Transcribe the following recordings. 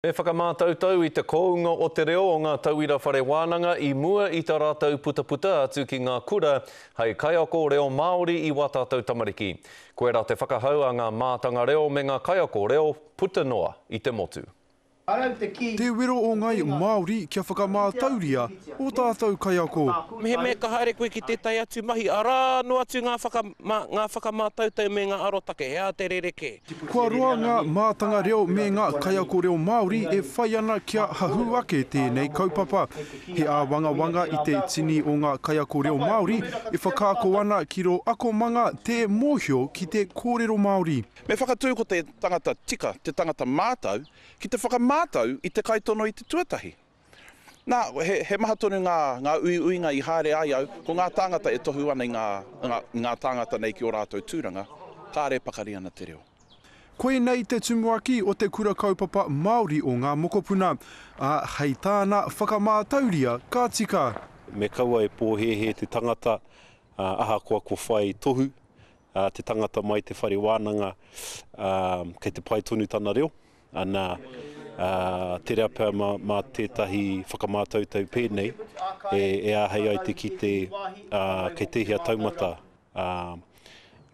E whakamātautau i te kounga o te reo o ngā tauira whare wānanga i mua i tā rātou putaputa atu ki ngā kura hei kaiako reo Māori i wā tātou tamariki. Koirā te whakahau a ngā mātanga reo me ngā kaiako reo puta noa i te motu. Te wero o ngai Māori kia whakamātauria ō tātou kaiako. Mehemea ka haere koe ki tētahi atu mahi, arā noa atu ngā whakamātautau me ngā arotake, he aha te rerekē? Kua roa ngā mātanga reo me ngā kaiako reo Māori e whai ana kia hahū ake tēnei kaupapa. He āwangawanga i te tini o ngā kaiako reo Māori e whakaako ana ki rō akomanga tē mōhio ki te kōrero Māori. Me whakatū ko te tangata tika te tangata mātau ki te whakamātau i te kaitono i te tuatahi. Nā, he maha tonu ngā uiuinga i haere ai au, ko ngā tāngata e tohu ana i ngā tāngata nei ki ō rātou tūranga, kāre pakari ana te reo. Koinei te tumuaki o te Kura Kaupapa Māori o Ngā Mokopuna, ā, hei tāna whakamātauria ka tika. Me kaua e pōhēhē te tangata, ā, ahakoa ko whai tohu te tangata mai te whare wānanga, ā, kei te pai tonu tana reo. Ana, ā, tere a Pam mā tētahi whakamātautau pēnei e āhei ai te kite kei tēhea taumata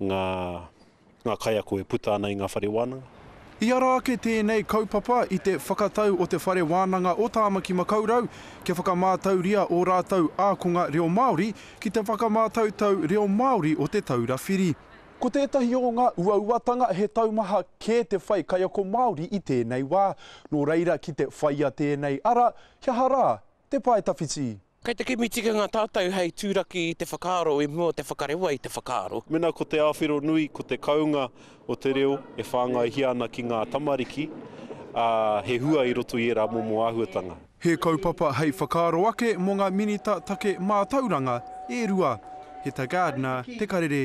ngā kaiako e puta ana i ngā whare wānanga. I ara ake tēnei kaupapa i te whakatau o Te Whare Wānanga o Tāmaki Makaurau kia whakamātauria ō rātou ākonga reo Māori ki te whakamātautau reo Māori o Te Taura Whiri. Ko tētahi o ngā uauatanga he taumaha kē te whai kaiako Māori i tēnei wā, nō reira ki te whaia tēnei ara, he aha rā, te pae tawhiti. Kei te kimi tikanga tātou hei turaki i te whakaaro i mua o te whakarewa i te whakaaro. Mēnā ko te awhero nui ko te kounga o te reo e whāngaihia ana ki ngā tamariki, ā, he hua i roto i ērā momo āhuatanga. He kaupapa hei whakaaro ake mō ngā Minita Take Mātauranga e rua, he tā Gardner te karere.